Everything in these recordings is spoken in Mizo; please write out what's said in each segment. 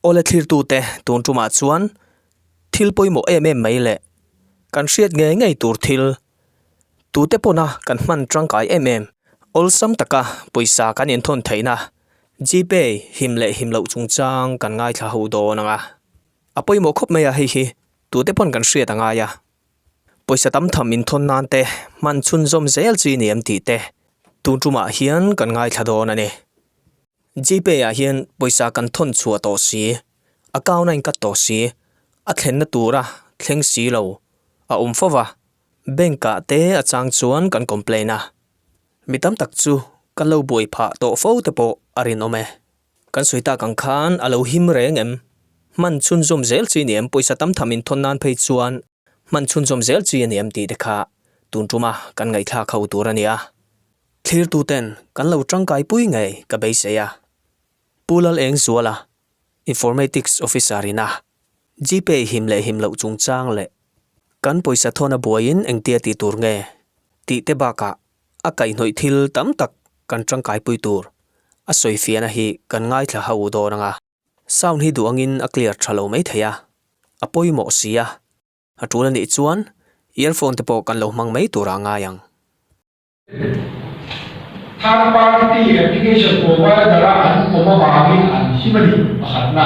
Aw le thlirtute, tun tumah chuan thil pawimawh em em mai leh kan hriat ngei ngei tur thil tute pawna kan hman tangkai em em. Awlsam taka pawisa kan inthawn theihna GPay him leh him loh chungchang kan ngaithla ho dawn ang a. A pawimawh khawp mai a, hei hi tute pawn kan hriat a ngai a. Pawisa tam tham inthawn nan te hman chhunzawm zel chi ni em tih te tun tumah hian kan ngaithla dawn a ni. GPay ah hian pawisa kan thawn chhuah tawh si, account a inkat tawh si, a thlenna tura thleng si lo a awm fo va, bank ah te a chang chuan kan complain a, mi tam tak chu ka lo buai phah tawh fo te pawh a rinawm e. Kan sawi tak ang khan a lo him reng em? Hman chhunzawm zel chi ni em? Pawisa tam tham in thawn nan phei chuan hman chhunzawm zel chi a ni em tih te kha tun ṭum a kan ngaihthlak kha u tur a ni a. Thlirtuten kan lo ṭangkai pui ngei ka beisei a. Pu Lal Engzuala, Informatics Officer in a GPay him leh him loh chungchang leh kan pawisa thawn a buaiin engtia ti tur nge tih te bakah a kaihnawih thil tam tak kan tangkaipui tur a sawi fian a hi kan ngaithla hau dawn anga, sound hi duh angin a clear tha lo mai thei a, a pawimawh si a, a tul anih chuan earphone te pawh kan lo hmang mai tur a ngai ang. Third party te leh application provider a an awm avangin an him a ni, pakhatna.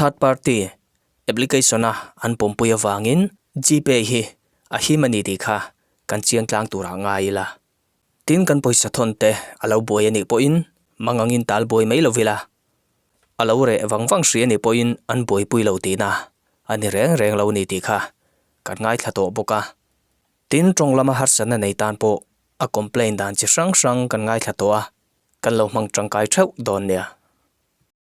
Third party application a an pawmpui avangin GPay hi a him a ni tih kha kan chiang tlang turah ngai ila, tin kan pawisa thawnte a lo buai a nih pawhin mangangin ta al buai mai lo ila, a lo reh vang vang hri a nih pawhin an buaipui lo tihna a ni reng reng lo a ni tih kha kan ngaithla tawh bawk a. Tin, tawng lama harsatna nei tan pawh a complain dan chi hrang hrang kan ngaithla tawh a, kan lo hmang tangkai theuh dawn nia.